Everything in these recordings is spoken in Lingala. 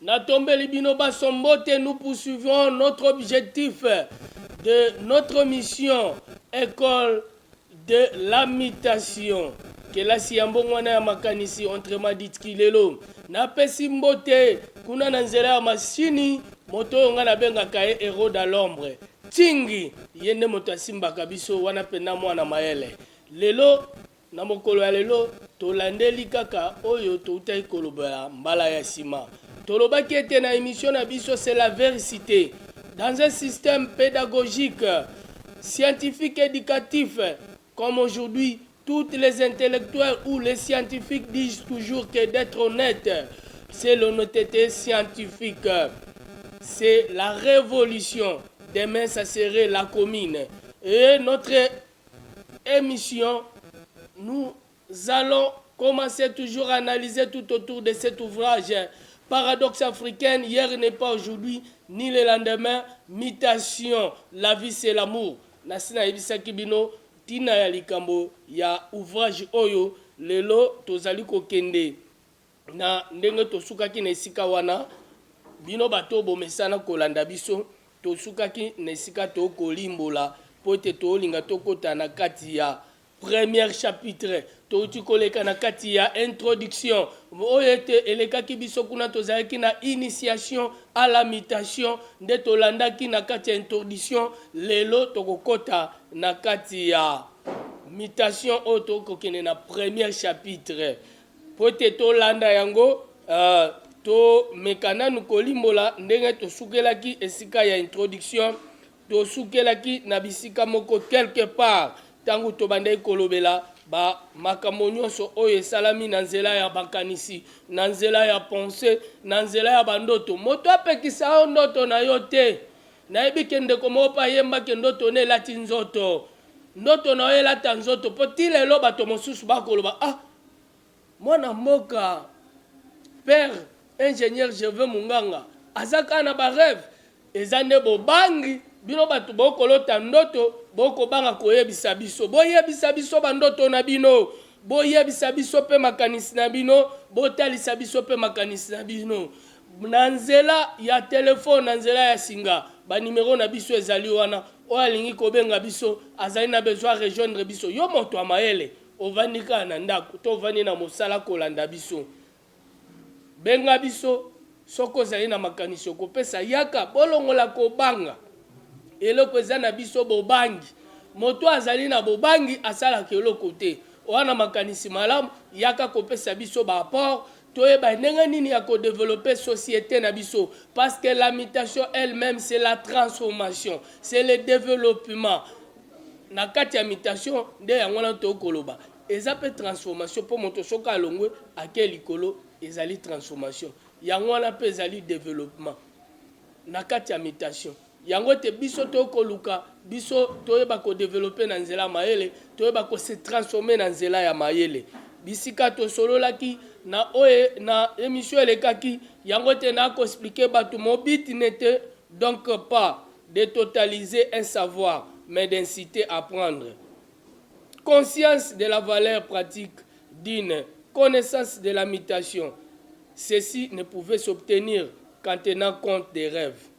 Na tombeli bino baso mbote nous poursuivons notre objectif de notre mission ecole de la mutation kelasi ya mbongwana ya makanisi entre madit kilelo na pesi mbote kuna na nzela ya masini moto oyo ngai nabengaka ye hero da l'ombre tingi ye nde moto asimbaka biso wana mpena mwana mayele lelo Na mokolo ya lelo, tolandeli kaka oyo toutaki kolobela mbala ya sima. Tolobaki ete na emission na biso C'est la vericite, dans un système pedagogique, scientifique educatif comme aujourd'hui, toutes les intellectuels ou les scientifiques disent toujours que d'etre honnete, c'est l'honnetete scientifique. C'est la revolution. Demain, ça serait la commune. Et notre Emission nous allons commencer toujours analyser tout autour de cet ouvrage Paradoxe africaine hier n'est pas aujourd'hui ni le lendemain mutation la vie c'est l'amour nasi nayebisaki bino ntina ya likambo ya ouvrage oyo lelo tozali kokende Na ndenge tosukaki na esika wana, bino bato oyo bomesana kolanda biso, tosukaki na esika tokolimbola mpo ete tolinga tokota na kati ya première chapitre. Touti koleka na kati ya introduction oyo ete elekaki biso kuna, tozalaki na initiation à la mutation nde tolandaki na kati ya introduction. Lelo tokokota na kati ya mutation oyo tokokende na première chapitre. Mpo ete tolanda yango, tomeka nanu kolimbola ndenge tosukelaki esika ya introduction. Tosukelaki na bisika moko quelque part ntango tobandaki kolobela ba makambo nyonso oyo esalami na nzela ya makanisi, na nzela ya pensee, na nzela ya bandoto. Moto apekisa yo ndoto na yo te. Nayebi ke ndeko moko pe ayemba ke ndoto ne elati nzoto. Ndoto na yo elata nzoto po ti lelo bato mosusu ba koloba ah mwana mboka père ingenieur Gervais Munganga aza kaka na ba reve. Eza nde bobangi bino bato bo kolota ndoto bo kobanga koyebisa biso. Boyebisa biso ba ndoto na bino. Boyebisa biso pe makanisi na bino. Botalisa biso pe makanisi na bino. na nzela ya telefone, na nzela ya singa. Ba numero na biso ezali wana. Oyo alingi kobenga biso, azali na besoin a rejoindre biso. Yo moto ya mayele, ovandi kaka na ndako to ovandi na mosala kolanda biso, benga biso soki ozali na makanisi okopesa. Yaka, bolongola kobanga. Eloko eza na biso bobangi. Moto oyo azali na bobangi asalaka eloko te. Oza na makanisi malamu, yaka kopesa biso ba apport Toyeba ndenge nini ya ko developper societe na biso parce que la mutation elle meme c'est la transformation, c'est le developpement na kati ya mutation nde yango wana tokoki koloba eza pe transformation po moto soki alongwe ake likolo ezali transformation yango wana pe ezali developpement na kati ya mutation. Yango ete biso toye koluka biso toyeba ko develope na nzela ya mayele, toyeba ko se transformer na nzela ya mayele. Bisika tosololaki na oyo na emission elekaki, yango ete na ko expliquer batu mon but n'etait donc pas de totaliser un savoir mais d'inciter à prendre conscience de la valeur pratique d'une connaissance de la mutation. Ceci ne pouvait s'obtenir qu'en tenant compte des rêves.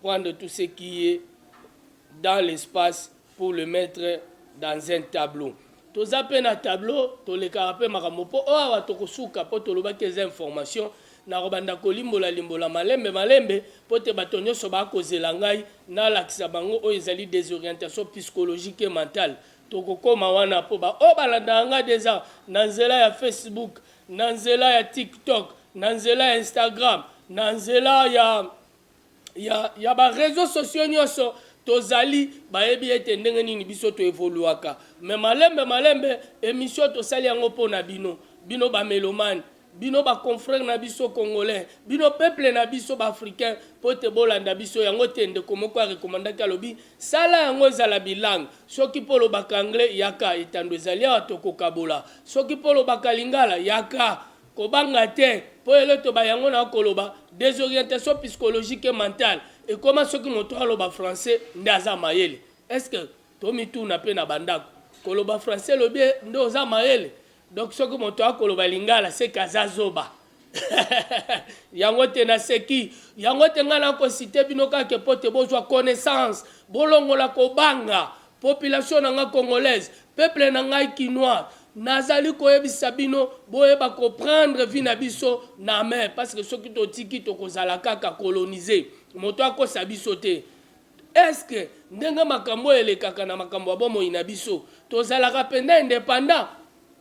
prendre tout ce qui est dans l'espace pour le mettre dans un tableau toza pe na tableau tolekaka pe makambo po oyo awa tokosuka po tolobaki eza information nakobanda kolimbola limbola malembe malembe mpo te bato nyonso bakozela ngai nalakisa bango oyo ezali desorientation psychologique et mentale tokokoma wana mpo baoyo balandaka ngai deja na nzela ya facebook na nzela ya tiktok na nzela ya instagram na nzela ya ya, ya ba reseaux sociaux nyonso tozali bayebi ete ndenge nini biso to evoluaka me malembe malembe emission tosali yango mpo na bino bino bamelomane bino baconfrere na biso congolais bino peuple na biso baafricain mpo te bolanda biso yango te ndeko moko arekomandaki alobi sala yango ezala bilangue soki mpo olobaka anglais yaka etando ezali awa tokokabola soki mpo olobaka lingala yaka Kobanga te, po eloto ba yango na koloba desorientation psychologique et mentale ekoma soki moto aloba français nde aza mayele est ce que tomituna pe na ba ndako koloba français lobi nde oza mayele donc soki moto akoloba lingala seke aza zoba yango te na seki yango te nga na ko cite bino kake pote bozwa connaissance bolongola kobanga Population na nga congolaise, peuple na ngai kinois, nazali koyebisa bino boyeba ko prendre vie na biso na main parce que soki totiki tokozala kaka coloniser, moto akosa biso te. Est ce que ndenge makambo oyo elekaka na makambo ya bomoi na biso, tozalaka mpenza independant?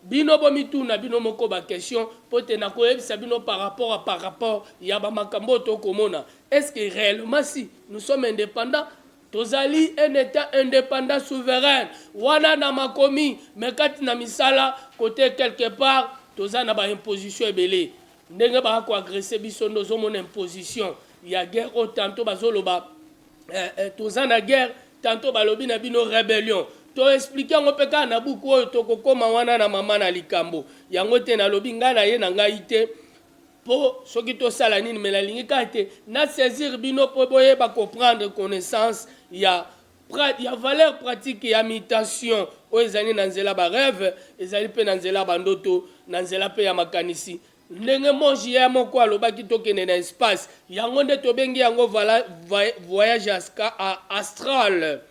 Bino bomituna bino moko ba questions mpo te nakoyebisa bino par rapport à par rapport ya ba makambo oyo tokomona est ce que reellement si nous sommes independants Tozali un etat independant souverain wana na makomi mais kati na misala cote quelque part toza na ba imposition ebele ndenge ba ko agresse biso nde ozomona imposition ya guerre oyo tanto bazoloba eh, eh, toza na guerre tanto balobi na bino rebellion toexplike yango mpe kaka na buku oyo tokokoma wana na mama na likambo yango ete nalobi ngai na ye na ngai te Po soki to sala nini mais na lingi kaka te na saisir bino po bo yeba ko prendre connaissance ya ya valeur pratique ya mutation oyo ezali na nzela ba reve ezali pe na nzela ba ndoto na nzela pe ya makanisi ndenge moji ya moko alobaki to kende na espace yango nde to bengi yango vala voyage aska a astral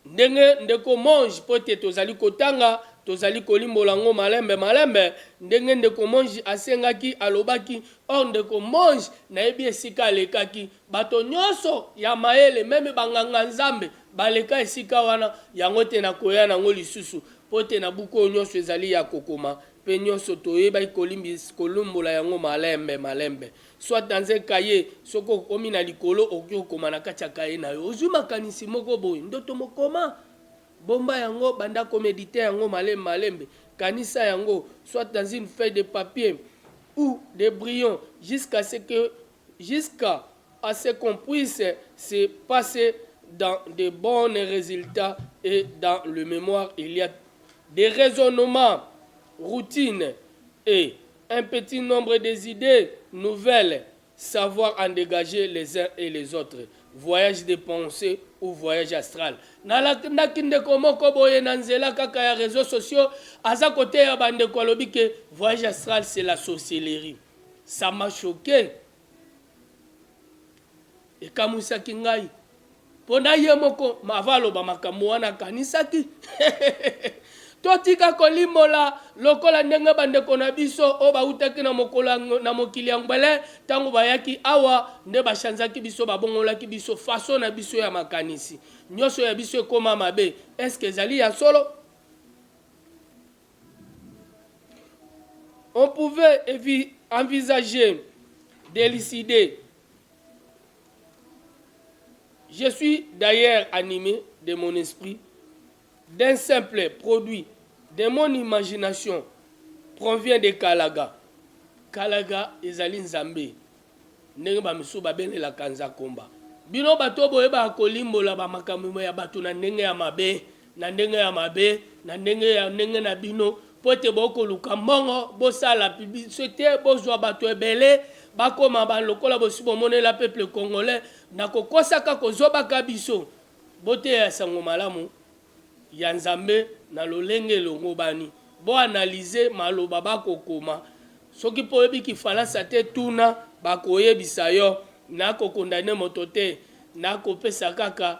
Ndenge ndeko Monge, mpo ete tozali kotanga, tozali kolimbola yango malembe malembe, ndenge ndeko Monge asengaki, alobaki, Oh, ndeko Monge, nayebi esika alekaki. Bato nyonso ya mayele, meme ba-nganga-Nzambe, baleka esika wana, yango ete nakoya na yango lisusu, mpo ete na buku oyo nyonso ezali ya kokoma, mpe nyonso toyebaki kolimbola yango malembe malembe. Soit dans un cahier, soki okomi na likolo okoki kokoma na kati ya kaye na yo. Ozwi makanisi moko boye, ndoto mokoma, bomba yango, banda komedite yango malembe malembe, kanisa yango, soit dans une feuille de papier ou des brillons, jusqu'à ce que jusqu'à à ce qu'on puisse se passer dans de bons résultats et dans le mémoire il y a des raisonnements routines et Un petit nombre des idees nouvelles savoir en degager les uns et les autres voyage de penser ou voyage astral na landaki ndeko moko boye na nzela kaka ya reseaux sociaux aza koteya ba ndeko alobi ke voyage astral c'est la sorcellerie ça m'a choquer Ekamwisaki ngai mpo na ye moko mava aloba makambo wana akanisaki totika kolimbola lokola ndenge bandeko na biso oyo bautaki na mokolo na mokili ya ngbele ntango bayaki awa nde bashanzaki biso babongolaki biso faso na biso ya makanisi nyonso ya biso ekoma mabe eske ezali ya solo on pouvait envisager de décider Je suis d'ailleurs animé de mon esprit d'un simple produit de mon imagination provient de Kalaga. Kalaga ezali Nzambe ndenge ba misusu babelelaka Nzakomba. Bino bato oyo boyebaka kolimbola ba makambo ya bato na ndenge ya mabe na ndenge ya mabe, na ndenge ya ndenge na bino, mpo ete bokoluka mbongo, bosala publicité te, bozwa bato ebele, bakoma ba lokola bosi bomonela peuple congolais, na kokosaka, kozobaka biso. Boteya sango malamu ya Nzambe na lolenge elongobani. Bo analyser maloba bakokoma. Soki mpe oyebi kifalansa te, tuna, bakoyebisa yo. Nako condamner moto te, nakopesa kaka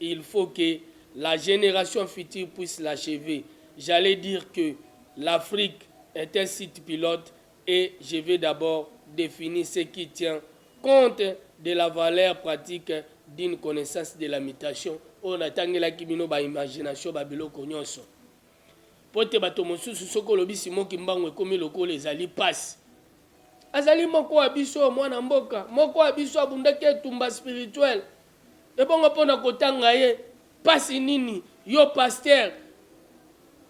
Il faut que la generation future puisse l'achever, j'allais dire que l'Afrique est un site pilote et je vais d'abord definir ce qui tient compte de la valeur pratique d'une connaissance de la mutation oyo natangelaki bino ba imagination ba biloko nyonso mpo te bato mosusu soki olobi simo kimbangu ekomi lokola ezali mpasi azali moko wa biso mwana mboka moko wa biso abundaki etumba spirituel Ebongo pona kotanga ye pasi nini yo pasteur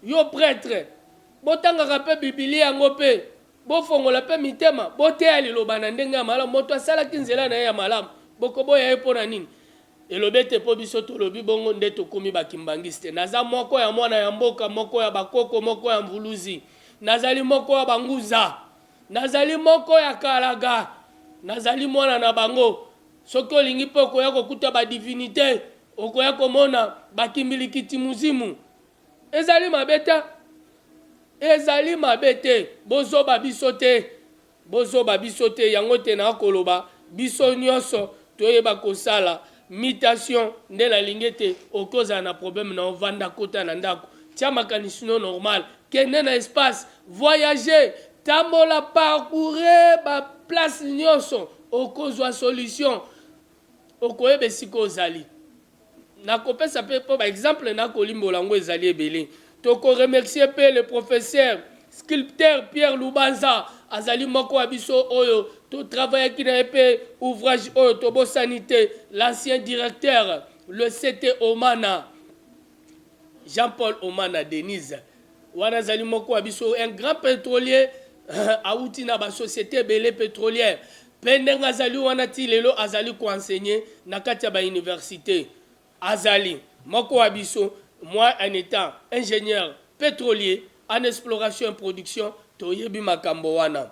yo pretre botangaka pe bibilia yango pe bofongola pe mitema boteya liloba na ndenge ya malamu moto asalaki nzela na ye ya malamu bokoboya ye pona nini elobi ete po biso tolobi bongo nde tokomi ba kimbanguiste naza moko ya mwana ya mboka moko ya ba koko moko ya mvuluzi nazali moko ya ba nguza nazali moko ya kalaga nazali mwana na bango Soki olingi pe okoya kokuta ba divinite okoya komona ba kimbilikiti muzimu ezali mabe te ezali mabe te bozoba biso te bozoba biso te yango te na koloba biso nioso toyeba kosala mutation nde nalingi ete okozala na probleme na yo vanda kota na ndaku tia makanisi no normal Kende na espace, voyager, tambola, parcourir ba places nionso, okozua solution. Okoyeba esika ozali. Nakopesa pe po ba exemples nakolimbola yango ezali ebele. Toko remercier pe le professeur sculpteur Pierre Lubanza, azali moko ya biso oyo to travaillaki na ye pe ouvrage oyo tobosani te, l'ancien directeur, le CT Omana. Jean Paul Omana Denise wana azali moko wa biso un grand petrolier awuti na ba societe ebele petrolière mpe ndenge azali wana ti lelo azali ko enseigner na kati ya ba universite azali moko wa biso moi en etant ingenieur petrolier en exploration et production toyebi makambo wana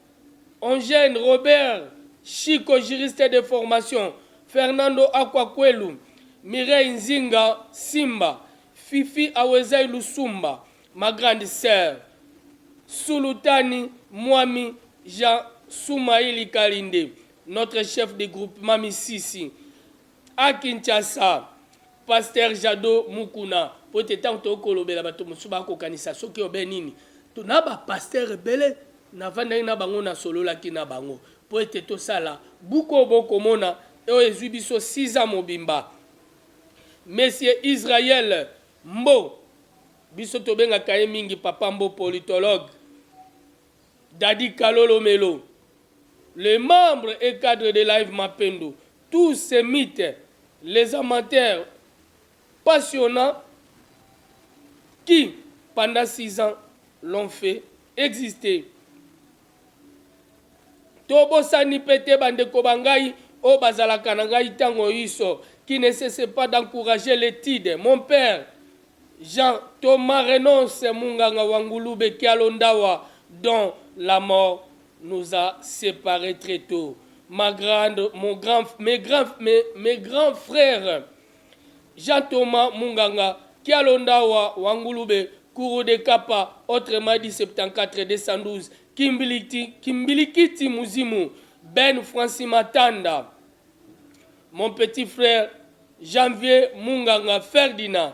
En jeune, Robert Chico juriste de formation, Fernando Akwa Kwelu, Mireille Nzinga Simba, Fifi Awezai Lusumba, ma grande sœur, Sulutani Mwami Jean Sumaili Kalinde, notre chef de groupement Misisi, A Kinshasa, Pasteur Jado Mukuna, po ete tango tokoki kolobela bato mosusu ba kokanisa soki obe nini. To na ba pasteurs ebele na fandaki na bango na sololaki na bango po ete tosala buku oyo bo komona oyo ezui biso six ans mobimba. Monsieur Israël Mbo, biso tobengaka ye mingi Papa Mbo politologue, Dady Kalolo Melo, le membre et cadre de Live Mapendo, Tous ces mythes les amateurs passionnants qui pendant six ans l'ont fait exister Tobosani pe te bandeko ba ngai oyo bazalaka na ngai tango inso qui ne cesse pas d'encourager l'etude mon père Jean Thomas Renonce Munganga wa Ngulube Kialo Ndawa dont la mort nous a separe tres tot ma grande mon grand mes grand mes, mes grand frère Jean Thomas Munganga Kialondawa Wangulube Kuru de Kapa autrement dit 74 212 Kimbiliti Kimbilikiti Muzimu Ben Francis Matanda mon petit frère Janvier Munganga Ferdinand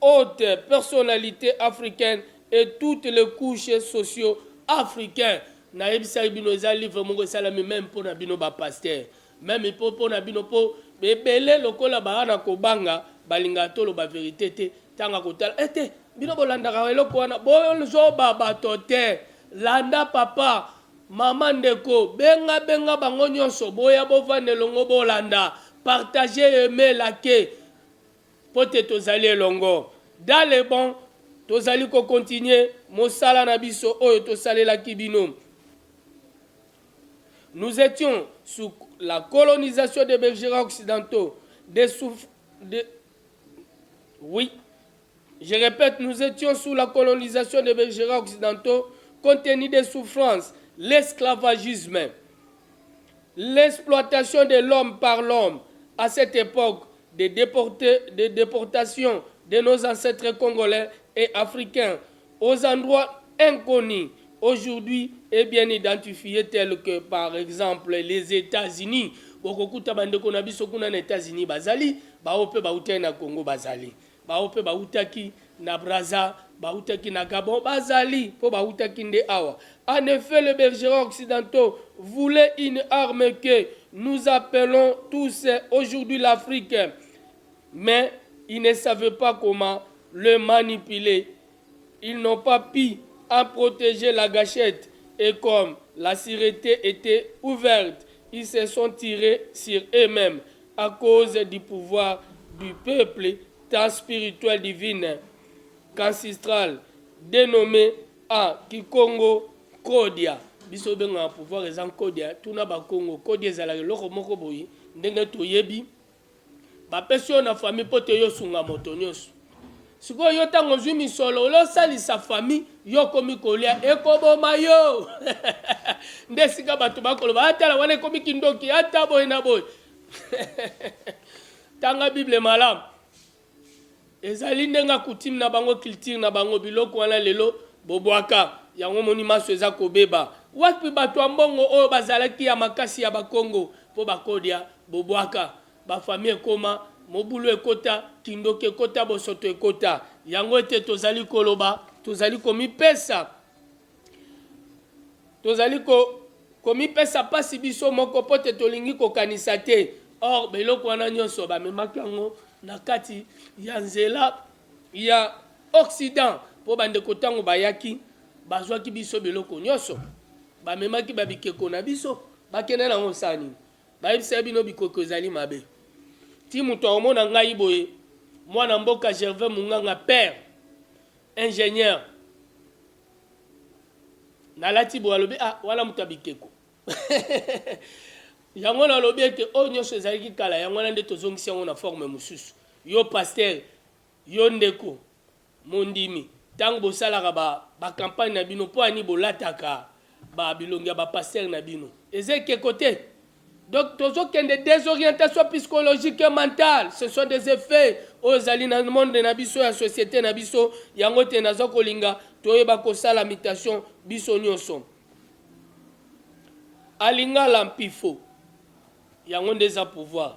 haute personalite africaine et toutes les couches socio africains nayebisaki bino eza livre moko esalami meme mpo na bino ba pasteur meme mpo mpo na bino mpo ebele lokola baa na kobanga balingaka toloba verite te ntango akotala ete eh, bino bolandaka eloko wana bozoba bato te landa papa mama ndeko benga benga bango nyonso boya bovanda elongo bolanda partage aime lake Mpo te tozali elongo. Dans le bon, tozali ko continuer mosala na biso oyo tosalelaki bino. Nous etions sous la colonisation des belgera occidentaux, des souf... De... Oui. Je répète, nous étions sous la colonisation des belgera occidentaux, compte tenu des souffrances, l'esclavagisme. L'exploitation de l'homme par l'homme à cette epoque de deporter, de deportation de nos ancetres congolais et africains aux endroits inconnus aujourd'hui et bien identifies tels que par exemple les Etats-Unis. Bokokuta bandeko na biso kuna na Etats-Unis bazali, baoyo mpe bautaki na Congo bazali. Baoyo mpe bautaki na Brazza, bautaki na Gabon, bazali, mpo bautaki nde awa. En effet, les bergerons occidentaux voulaient une arme que nous appelons tous aujourd'hui l'Afrique, mais ils ne savaient pas comment le manipuler Ils n'ont pas pu en proteger la gachette et comme la surete etait ouverte, ils se sont tires sur eux-memes à cause du pouvoir du peuple tant spirituel divine qu'ancestral denomme en kikongo Nkodia. Biso obengaka pouvoir eza Nkodia, tuna Bakongo, Nkodia ezalaka eloko moko boye ndenge toyebi. Ba pesi yo na famille po te yo sunga moto nioso. Sikoyo yo tango ozui misolo olo salisa famille yo komi kolia eko boma yo. Nde sika bato ba koloba ah tala wana ekomi kindoki ata boye na boye. Tanga bible malamu. Ezali nde nga coutume na bango culture na bango biloko wana lelo bobuaka yango omoni manso eza kobeba wapi batu ya mbongo oyo bazalaki ya makasi ya bakongo po bakodia bobuaka ba famille ekoma mobulu ekota kindoki ekota bosoto ekota yango ete tozali koloba tozali komipesa tozali ko komipesa mpasi biso moko mpo te tolingi kokanisa te or beloko wana nyonso bamemaki yango na kati ya nzela ya occident mpo bandeko ntango bayaki bazwaki biso biloko nyonso bamemaki babikeko na biso bakenda nango osala nini bayebisaki bino bikoko ezali mabe ti moto akomona ngai boye mwana mboka gervais munganga père ingénieur Nalati boye alobi ah wana moto ya bikeko yango nalobi ete oyo nyonso ezalaki kala yango wana nde tozongisi yango na forme mosusu yo pasteur yo ndeko mondimi ntango bosalaka bacampagne ba na bino mpo ani bolataka babilongi ya bapastere na bino eza ekeko te Donc tozo kende desorientation psychologique et mentale, ce sont des effets oyo ezali na monde na biso ya societe na biso, yango te nazo kolinga toyeba kosala mutation biso nioso. Alingala mpifo yango nde eza pouvoir.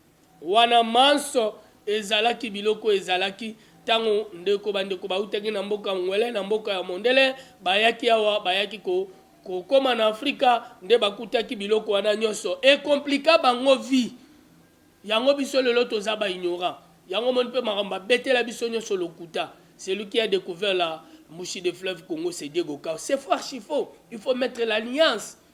Wana manso ezalaki biloko ezalaki tango ndeko bandeko bautaki na mboka Anguele na mboka ya mondele bayaki awa bayaki ko kokoma na Afrika nde bakutaki biloko wana nyoso e compliqua bango vie yango biso lelo toza ba ignorant yango omoni pe makambo babetela biso nyoso lokuta celui qui a decouvert la mouche de fleuve Congo c'est Diego Cao c'est faux archi faux il faut mettre l'alliance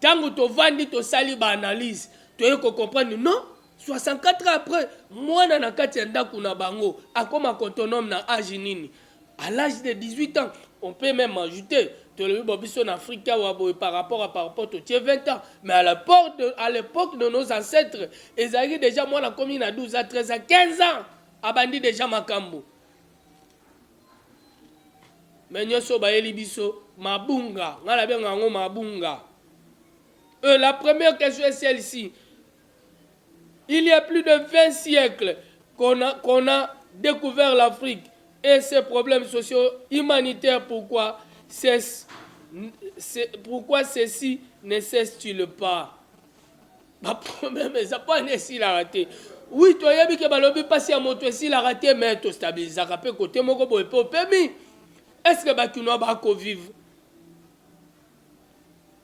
Tango tovandi tosali ba analyse toye ko comprendre non 64 ans après mwana na kati ya ndako na bango akoma autonome na age nini à l'âge de 18 ans on peut même ajouter tolobi bo biso na Afrika wa boye par rapport à par rapport totie 20 ans mais à l'époque de, à l'époque de nos ancêtres ezalaki déjà mwana komi na 12 à 13 à 15 ans abandi déjà makambo me nyonso oyo bayeli biso mabunga ngai nabenga yango mabunga euh, la première question est celle-ci il y a plus de 20 siècles qu'on a, qu'on a découvert l'afrique et ses problèmes sociaux humanitaires pourquoi cesse, pourquoi ceci ne cesse-t-il pas ba problème eza mpo wana esilaka te wi toyebi ke balobi mpasi ya moto esilaka te me tostabilizaka mpe kote moko boye mpe opemi estce bakinois bakovivre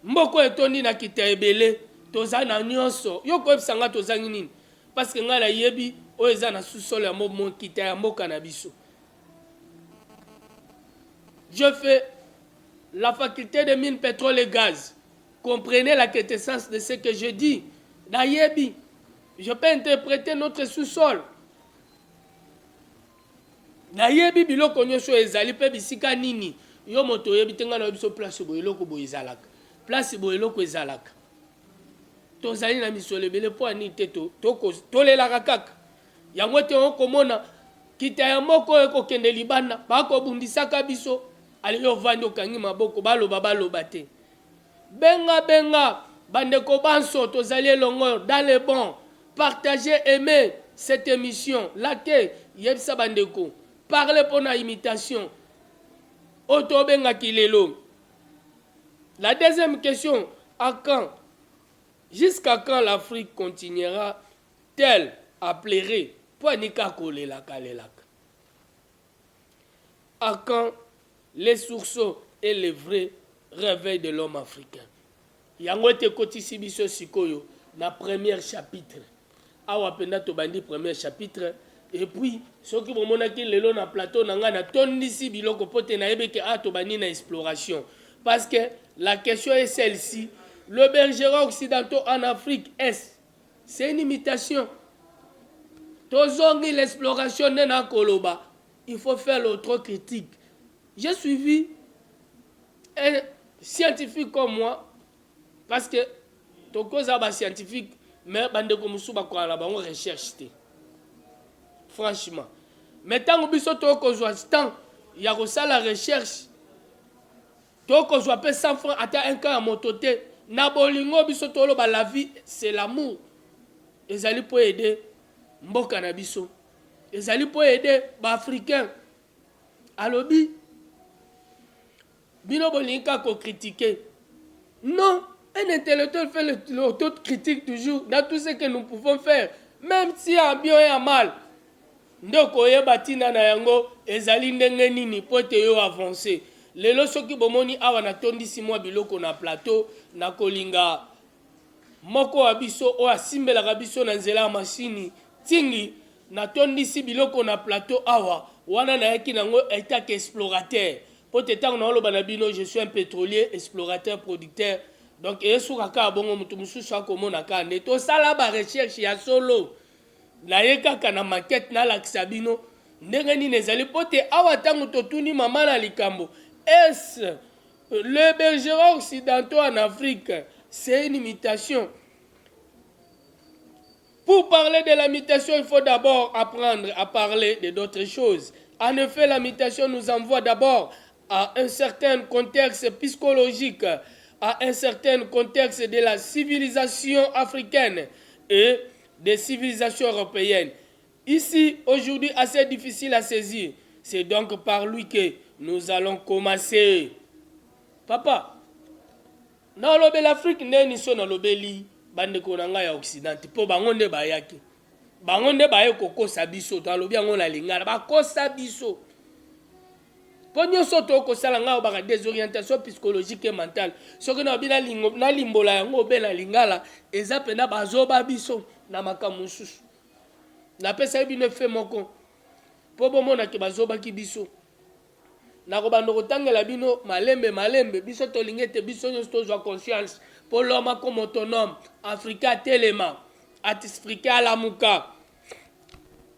mboko etondi na kita ebele toza na nyonso yo koyebisa ngai tozangi nini parceke ngai nayebi oyo eza na susole ya mokita ya mboka na biso je fais la faculté de mine pétrole et gaz Comprenez la quintessence de ce que je dis. Nayebi. Je peux interpréter notre sous-sol. Nayebi biloko nyonso ezali pe bisika nini. Yo moto oyebi te ngai nayebi so place boye eloko boye ezalaka. Place boye eloko ezalaka. Tozali na misolo ebele mpo ya nini te tolelaka kaka. Yango ete okomona kita ya moko oyo ekokende libanda bakobundisaka biso aliyo ovandi okangi maboko baloba baloba te Benga benga ba ndeko banso tozali elongo dans le bon partager aimer cette emission laker yebisa ba ndeko parler pona imitation oyo to benga ki lelo la deuxième question à quand jusqu'à quand l'Afrique continuera telle à pleurer pwa nika kolelaka lelaka A quand les sursaut et le vrai reveil de l'homme africain? Yango ete ekotisi biso sikoyo na première chapitre. Awa mpenza tobandi première chapitre et puis soki bomonaki lelo na plateau na ngai natondisi biloko mpo te nayebi ke awa tobandi na exploration parce que la question est celle-ci le bergeron occidentaux en Afrique est C'est une imitation. Tozongi l'exploration nde na koloba. Il faut faire l'autre critique. J'ai suivi un scientifique comme moi parce que tokoza ba scientifique mais bandeko mosusu bakola na bango recherche te franchement mais ntango biso tokozwa temps ya kosala recherche To ko zwa pe 100 francs ata un cas ya moto te na bolingo biso to loba la vie c'est l'amour ezali po aider mboka na biso ezali po aider ba africain alobi bino bolingi ka ko critiquer non un intellectuel fait le, le auto critique toujours dans tout ce que nous pouvons faire même si en bien et en mal Nde okoyeba tina na yango ezali ndenge nini mpo ete yo avancer. Lelo soki bomoni awa natondisi mwa biloko na plateau, nakolinga moko wa biso oyo asimbelaka biso na nzela ya masini tingi natondisi biloko na plateau awa, wana nayaki na yango etat que explorateur. Mpo ete ntango naoloba na bino je suis un petrolier, explorateur, producteur, donc esuka kaka bongo, moto mosusu akomona kaka nde tosala ba recherches ya solo. Naye kaka na maquette nalakisa bino ndenge nini ezali mpo te awa tango totuni mama na likambo est le bergera occidentaux en Afrique c'est une mutation Pour parler de la mutation, il faut d'abord apprendre à parler de d'autres choses. En effet, la mutation nous envoie d'abord à un certain contexte psychologique, à un certain contexte de la civilisation africaine. Et des civilisations europeenne ici aujourd'hui assez difficile à saisir c'est donc par lui que nous allons commencer papa naolobela afrique nde niso nalobeli bandeko na ngai ya occident te mpo bango nde bayaki bango nde baye kokosa biso talobi yango na lingala bakosa biso mpo nyonso to kosala ngai obaka desorientation psychologique et mentale soki na bina lingo na limbola yango obe na lingala eza pena bazoba biso na makambo mosusu napesaki bino efe moko mpo bomonaki bazobaki biso nakobanda kotangela bino malembe malembe biso tolingi ete biso nyonso tozwa conscience mpo loma comme autonome afrika atelema atisfrika alamuka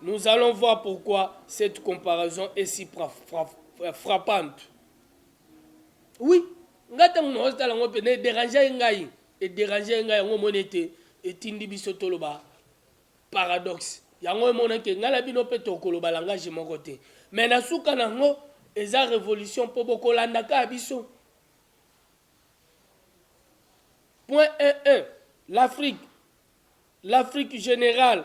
Nous allons voir pourquoi cette comparaison est si frappante. Oui, nga ntango naozi tala yango mpe na ederange ye ngai ederange ye ngai yango omoni ete etindi biso toloba paradoxe yango emonaki ngai na bino mpe tokoloba langage moko te me na suka na yango eza révolution mpo bokolanda kaka biso point 11 l'afrique l'afrique générale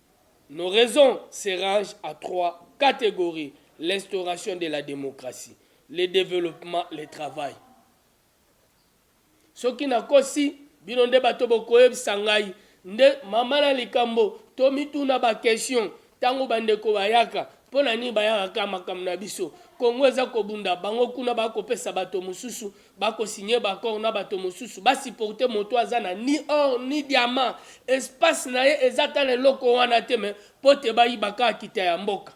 Nos raisons se rangent à trois categories, l'instauration de la democratie, le developpement, le travail. Soki nakosi, bino nde bato bokoyebisa ngai. Nde mama na likambo, tomituna ba questions tango bandeko bayaka. Mpo na nini bayaka kaka makambo na biso? Congo eza kobunda, bango kuna bakopesa bato mosusu ba ko signe ba accord na bato mosusu ba supporte moto aza na ni or ni diamant espace na ye eza ata na eloko wana te me po te bayiba kaka kita ya mboka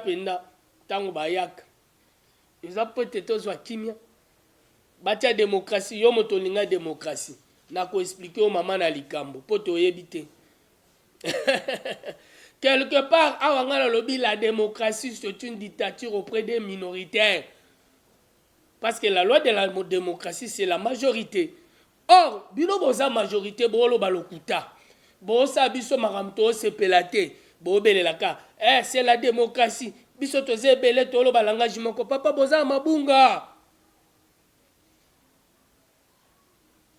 mpenza ntango bayaka eza mpo ete tozwa kimia batya demokrasi yo moto olinga demokrasi na koexplike yo mama na likambo mpo toyebi te quelque part awa ngai nalobi la démocratie c'est une dictature auprès des minoritaires parce que la loi de la démocratie c'est la majorité or bino boza majorité boloba lokuta bosa biso makambo tosepela te bobelelaka eh, c'est la démocratie biso toza ebele toloba langage moko papa boza mabunga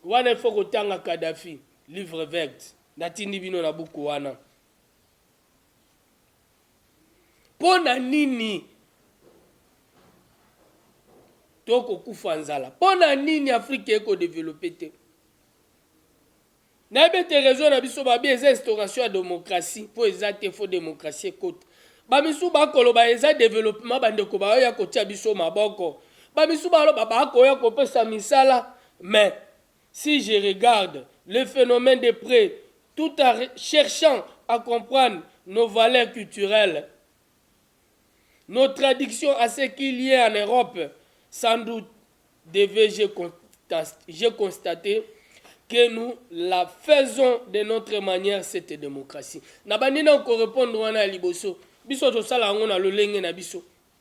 wana ifo kotanga kadafi livre verte natindi bino na buku wana Mpo na nini tokokufa nzala? Mpo na nini Afrika ekodevelope te? nayebi ete réseau na biso babi eza instauration ya démocratie mpo eza te fo démocratie ekota bamisusu bakoloba eza développement bandeko baoya kotia biso maboko bamisusu baloba bakoya kopesa misala mais Si je regarde le phenomène de près tout en cherchant à comprendre nos valeurs culturelles, nos tradictions à ce qu'il y ait en Europe, sans doute devais-je j'ai constaté que nous la faisons de notre manière cette démocratie. Na bandi na ko répondre wana ya liboso. Biso tosala yango na lolenge na biso.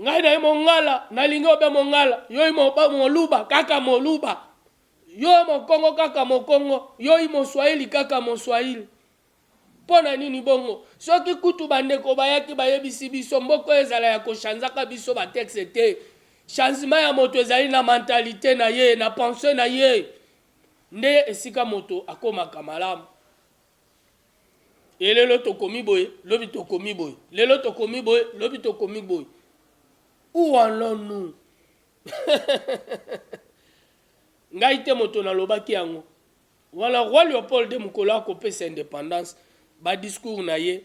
ngai naye mongala nalingi obe mongala yoi moluba kaka moluba yo mokongo kaka mokongo yoi moswahili kaka moswahili mpo na nini bongo soki kutu bandeko bayaki bayebisi biso mboko ezala ya koshanzaka biso batekste te changement ya moto ezali na mentalite na ye na pense na ye nde esika moto akomaka malamu e lelo tokomi boye lobi tokomi boye lelo tokomi boye lobi tokomi boye où allons nous ngai te moto nalobaki yango wana roi leopold de mokolo akopesa indépendance badiscours na ye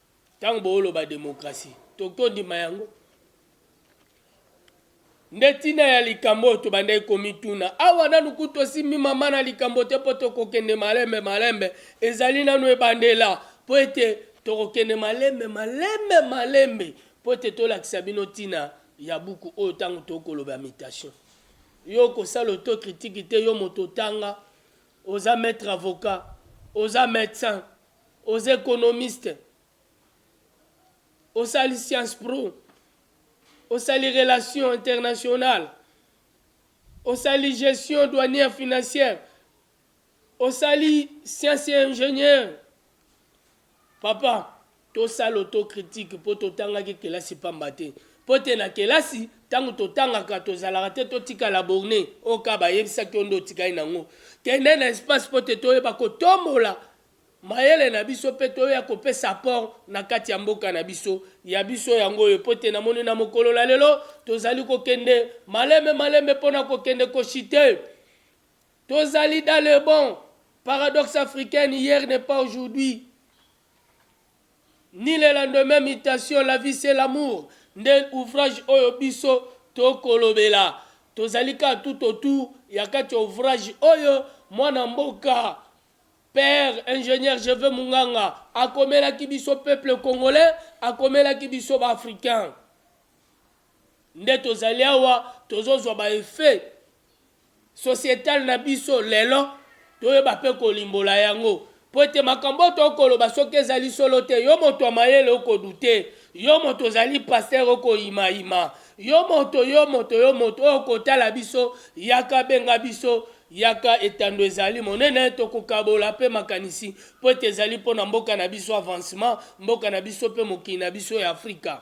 Tango booloba democratie tokoki kondima yango? Nde tina ya likambo oyo tobandaki komituna awa, nanu kutu tosimbi mama na likambo te mpo tokokende malembe malembe, ezali nanu ebandela mpo ete tokokende malembe malembe malembe mpo ete tolakisa bino tina ya buku oyo ntango tokoloba mutation. Yo okosala autocritique te, yo moto otanga, oza maitre avocat, oza medecin, Oza economiste, osali science pro, osali relation internationale, osali gestion douanière financière, osali science et ingénieur. Papa, tosala autocritique mpo totangaki kelasi pamba te mpo te na kelasi Tango totangaka tozalaka te totika la borne oyo kaka bayebisaki yo nde otikali na yango. Kende na espace mpo te toyeba kotombola mayele na biso mpe toya kopesa apport na kati ya mboka na biso. Ya biso yango oyo mpo te namoni na mokolo na lelo tozali kokende malembe malembe mpo na kokende ko chuter. Tozali dans le bon. Paradoxe africaine, hier n'est pas aujourd'hui. ni le lendemain mutation la vie c'est l'amour nde ouvrage oyo biso to kolobela tozali kaka tout au tour ya kati ya ouvrage oyo mwana mboka père ingenieur je veux munganga akomelaki biso peuple congolais akomelaki biso ba africains nde tozali awa tozozwa ba effet societal na biso lelo toyeba mpe kolimbola yango mpo ete makambo oyo tokoloba soki ezali solo te yo moto ya mayele okodute yo moto ozali pastere okoyimayima yo moto yo moto yo moto oyo okotala biso yaka benga biso yaka etando ezali monene tokokabola mpe makanisi mpo ete ezali mpo na mboka na biso avancement mboka na biso mpe mokili na biso ya afrika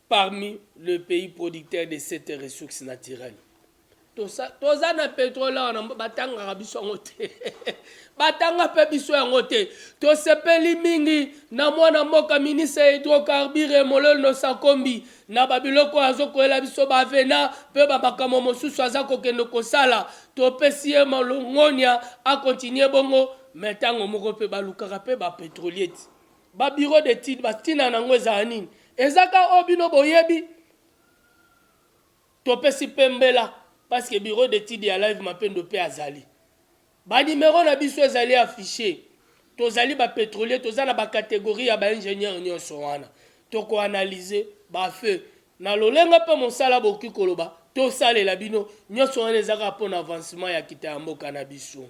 Parmi le pays producteur de cette ressource naturelle. Toza na petrole awa na batangaka biso yango te. Batanga pe biso yango te. Tosepeli mingi na mwana mboka ministre ya hydrocarbure Mololo Nosakombi na babiloko oyo azokolela biso bavena pe bamakambo mosusu aza kokende kosala. Topesi ye malongonia akontinue bongo me ntango moko pe balukaka pe ba petrolier ti. Ba bureau d'etude ba tina na ngo ezala nini? Eza ka oyo bino boyebi? Topesi pe mbela parce que bureau d'etude ya live mapendo pe azali. Ba numero na biso ezali affiche. Tozali ba petrolier toza na ba categorie ya ba ingenieur nionso wana. Toko analyse ba feu na lolenga pe mosala boki koloba tosalela bino nionso wana eza ka pona avancement ya kita ya mboka na biso.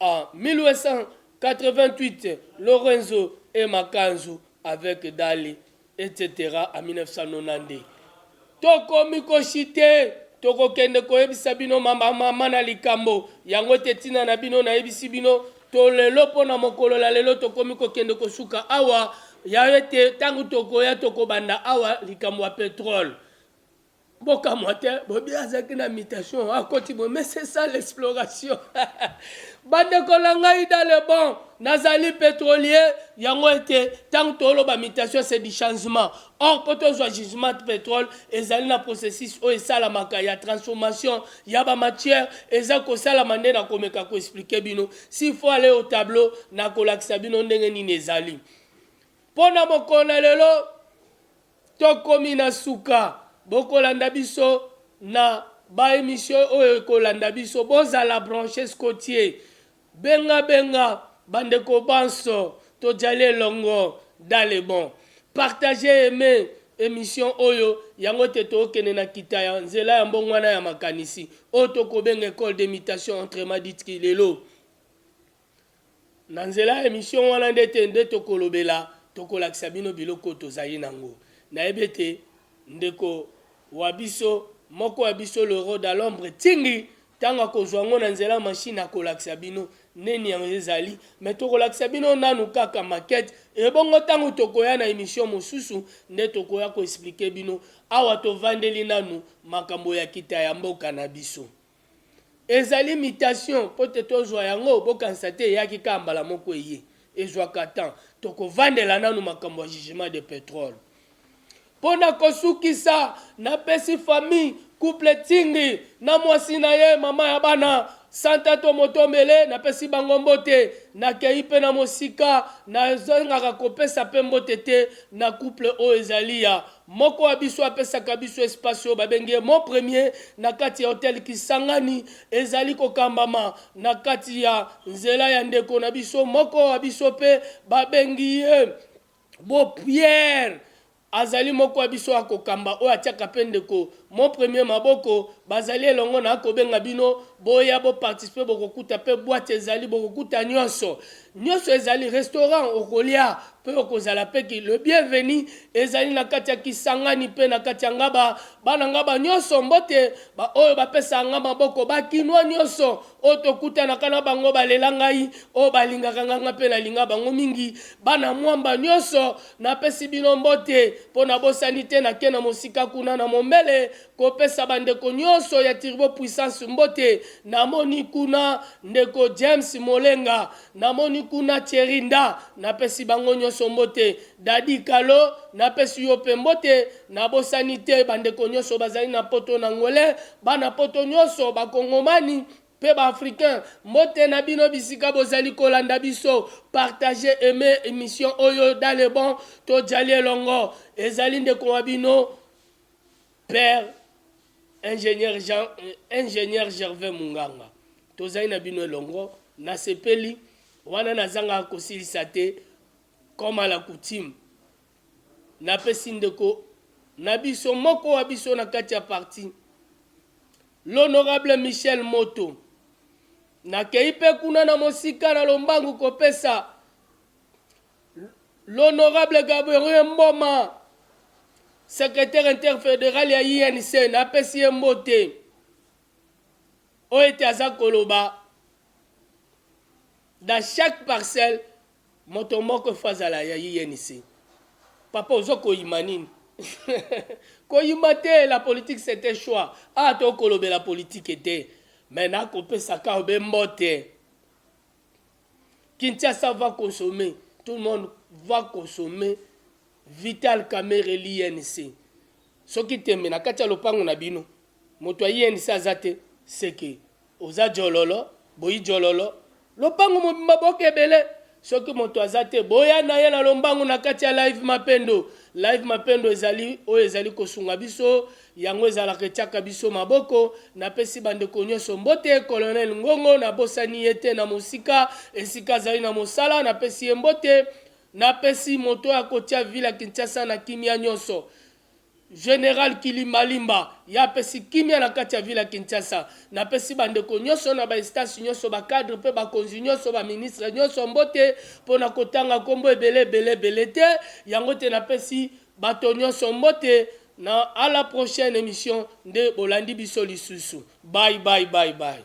En 1888, Lorenzo et Makanzu avec Dali, etc. En 1992. Tokomi koshite tokokende koyebisa bino mama mama na likambo yango ete ntina na bino nayebisi bino to lelo mpo na mokolo la lelo tokomi kokende kosuka awa ya ete ntango tokoya tokobanda awa likambo ya petrole Boka mwate, bobi azaki na mutation, akoti bo, mais c'est ça l'exploration. Bandeko na ngai dans le bon, nazali petrolier, yango ete tango toloba mutation c'est du changement. Or po tozwa jugement de petrole ezali na processus oyo esalamaka ya transformation ya ba matière eza kosalama nde na komeka ko expliquer bino. S'il faut aller au tableau, na kolakisa bino ndenge nini ezali. Po na mokolo na lelo, Tokomi na suka, bokolanda biso na ba emission oyo ekolanda biso bozala branches cotier benga benga ba ndeko banso tojali elongo dans le bon partager aime emission oyo yango te tookende na kita ya nzela ya mbongwana ya makanisi oyo tokobenga ecole d'imitation autrement dite kilelo. Na nzela ya emission wana nde te nde tokolobela tokolakisa bino biloko oyo tozali nango. Nayebi ete ndeko wabiso moko ya biso le roi d'alombre Tsingi tango akozua yango na nzela ya machine akolakisa bino neni yango ezali mais tokolakisa bino nanu kaka maquette ebongo tango tokoya na emission mosusu nde tokoya ko expliquer bino awa tovandeli nanu makambo ya kita ya mboka na biso. Ezali mutation mpo te tozua yango, bokanisa te eyaki kaka mbala moko eye, ezuaka temps. Tokovandela nanu makambo ya jugement de petrole. Mpo na kosukisa, napesi famille, couple Tsingy na mwasi na ye, mama ya bana, Santa Tomotombele, napesi bango mbote. Nakeyi mpe na mosika, nazangaka kopesa mpe mbote te na couple oyo ezali ya Moko wa biso apesaka biso espace oyo babengi ye Mon Premier na kati ya hotel Kisangani. Ezali kokambama na kati ya nzela ya ndeko na biso moko wa biso mpe babengi ye Bo Pierre. Azali moko wa biso akokamba oyo atiaka mpe ndeko Mon Premier maboko. Bazali elongo na akobenga bino boya bo participer bokokuta mpe boite ezali bokokuta nionso. Nionso ezali restaurant okolia pe okozala pe ki le bienvenu ezali na kati ya Kisangani pe na kati ya Ngaba. Bana Ngaba nionso mbote, ba oyo bapesaka nga maboko, ba kinois nionso oyo tokutanaka na bango balela ngai, oyo balingaka nga nga pe nalinga bango mingi. Bana Mwamba nionso napesi bino mbote po nabosani te nake na mosika kuna na Mombele Kopesa bandeko nyonso ya Turbo Puissance mbote, namoni kuna ndeko James Molenga, namoni kuna Thierry Nda, napesi bango nyonso mbote. Daddy Kalo, napesi yo mpe mbote, nabosani te bandeko nyonso bazali na poto, na Angolais, bana poto nyonso, ba Kongomani mpe ba Africains, mbote na bino bisika bozali kolanda biso. Partagez, aimez emission oyo dans le bon, tojali elongo. Ezali ndeko wa bino. Père ingenieur Jean ingenieur Gervais Munganga tozali na bino elongo nasepeli wana nazanga kosilisa te comme à la coutume napesi ndeko na biso moko wa biso na kati ya parti l'honorable Michel Moto nakei mpe kuna na mosika na lombangu kopesa L'honorable Gaborien Mboma, secretaire interfederal ya INC, napesi ye mbote oyo ete aza koloba dans chaque parcelle moto moko fo azala ya INC. Papa ozo koyima nini? koyima te, la politique c'est un choix. Ah, to kolobela politique te. Mais nakopesa ka obe mbote. Kinshasa va consommer tout le monde va consommer vital kamerhe l'INC soki tembe na kati ya lopango na bino moto ya INC aza te c'est que oza djololo boyi djololo lopango mobimba boke ebele soki moto aza te boya na ye na lombango na kati ya live mapendo live mapendo ezali oyo ezali kosunga biso Yango ezalaka etiaka biso maboko. Napesi bandeko nyonso mbote. Colonel Ngongo, nabosani ye te na mosika, esika azali na mosala, napesi ye mbote. Napesi moto oyo akotia ville ya Kinshasa na kimia nyonso. General Kilimbalimba, ye apesi kimia na kati ya ville ya Kinshasa. Napesi bandeko nyonso na ba instances nyonso, ba cadres mpe bakonzi nyonso, ba ministres nyonso mbote. Mpo na kotanga kombo ebele ebele ebele te, yango te napesi bato nyonso mbote. Na a la prochaine emission nde bolandi biso lisusu bye bye bye bye.